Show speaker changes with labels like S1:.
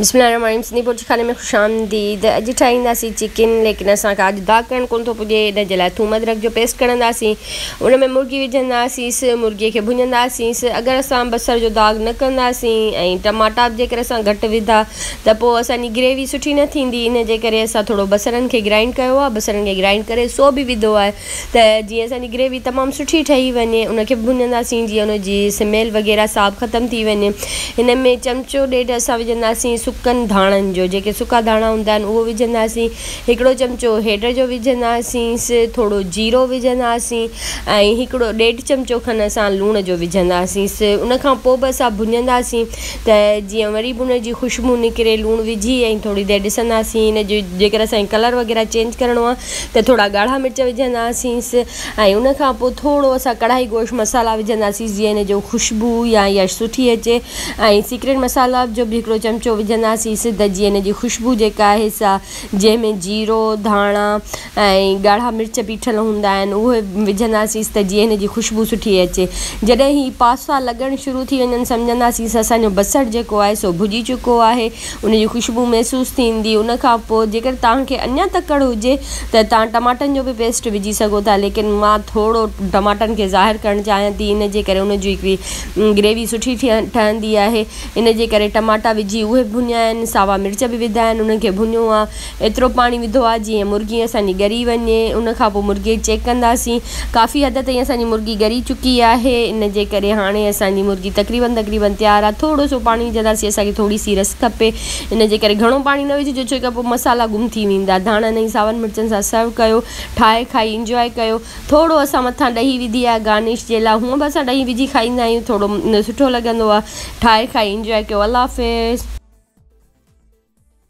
S1: بسم الله الرحمٰن الرحيم سنڌي بورچي خاني ۾ خوش آمديد اڄ ٺاهينداسين چڪن ليڪن اسان کي اڄ داغ ڪرڻ ڪونه ٿو پڄي ان جي لاء ٿوم ادرڪ جو پيسٽ ڪڙهنداسين ان ۾ مرغي وجهنداسيس مرغي کي ڀڃنداسيس اگر اسان بصر جو داغ نه ڪنداسين ۽ ٽماٽا به جيڪر اسان گهٽ وڌا ته پوء اسان جي گريوي سٺي نه ٿيندي ان جي ڪري اسان ٿورو بصرن کي گرائنڊ ڪيو آهي بصرن کي گرائنڊ ڪري سو به وڌو آهي ته جيئن اسان جي گريوي تمام سٺي ٺهي وڃي ان کي ڀڃنداسين جيئن ان جي سميل وغيره سا به ختم ٿي وڃي ان ۾ چمچو ڏيڍ اسان وجهنداسين سڪن ڌاڻن جو جيڪي سڪا ڌاڻا هوندا آهن اهو وجهنداسين هڪڙو چمچو هيڊ جو وجهنداسينس ٿورو جيرو وجهنداسين ۽ هڪڙو ڏيڍ چمچو کن اسان لوڻ جو وجهنداسينس ان کان پوء به اسان ڀڃنداسين ته جيئن وري به ان جي خوشبو نڪري لوڻ وجهي ۽ ٿوري دير ڏسنداسين ان جو جيڪر اسان کي ڪلر وغيره چينج ڪرڻو آهي ته ٿورا ڳاڙها مرچ وجهنداسينس ۽ ان کان پوء ٿورو اسان ڪڙاهي گوشت مصالحا وجهنداسينس جيئن ان جو خوشبو يا يا سٺي اچي ۽ سيڪريٽ مصالحا جو به هڪڙو چمچو وجهنداسينس ته جيئن ان جي خوشبو جيڪا آهي سا جنهن ۾ جيرو ڌاڻا ۽ ڳاڙها مرچ پيٺل هوندا آهن اهي وجهنداسينس ته جيئن ان جي خوشبو سٺي اچي جڏهن هي پاستا لڳڻ شروع ٿي وڃن سمجهنداسينس اسان جو بصر جيڪو آهي سو ڀڄي چڪو آهي ان جي خوشبو محسوس ٿيندي ان کان پوء جيڪڏهن توهان کي اڃا تڪڙ هجي ته توهان ٽماٽن جو به پيسٽ وجهي سگهو ٿا ليڪن مان ٿورو ٽماٽن کي ظاهر ڪرڻ چاهيان ٿي ان جي ڪري ان جي هڪڙي گريوي سٺي ٺهندي آهي ان جي ڪري ٽماٽا وجهي اهي ڀڃيا آهن ساوا مرچ به وڌا آهن انهن کي ڀڃو آهي ايترو پاڻي وڌو آ جيئن مرغي اسان جي ڳري وڃي ان کان پوء مرغي کي چيڪ ڪنداسين ڪافي حد تائين اسان جي مرغي ڳري چڪي آهي ان جي ڪري هاڻي اسان جي مرغي تقريبن تقريبن تيار آ ٿورو سو پاڻي وجهنداسين اسان کي ٿوري سي رس کپي ان جي ڪري گهڻو پاڻي نه وجهجو ڇو ڪري پوء مسالا گم ٿي ويندا ڌاڻن ۽ ساون مرچن سان سرو ڪيو ٺاهي کائي انجواء ڪيو ٿورو اسان مٿان ڏهي وڌي آ گارنش جي لا هونء به اسان ڏهي وجهي کائيندا آهيون ٿورو سٺو لڳندو آ ٺاهي کائي انجواء ڪيو الله حافظ.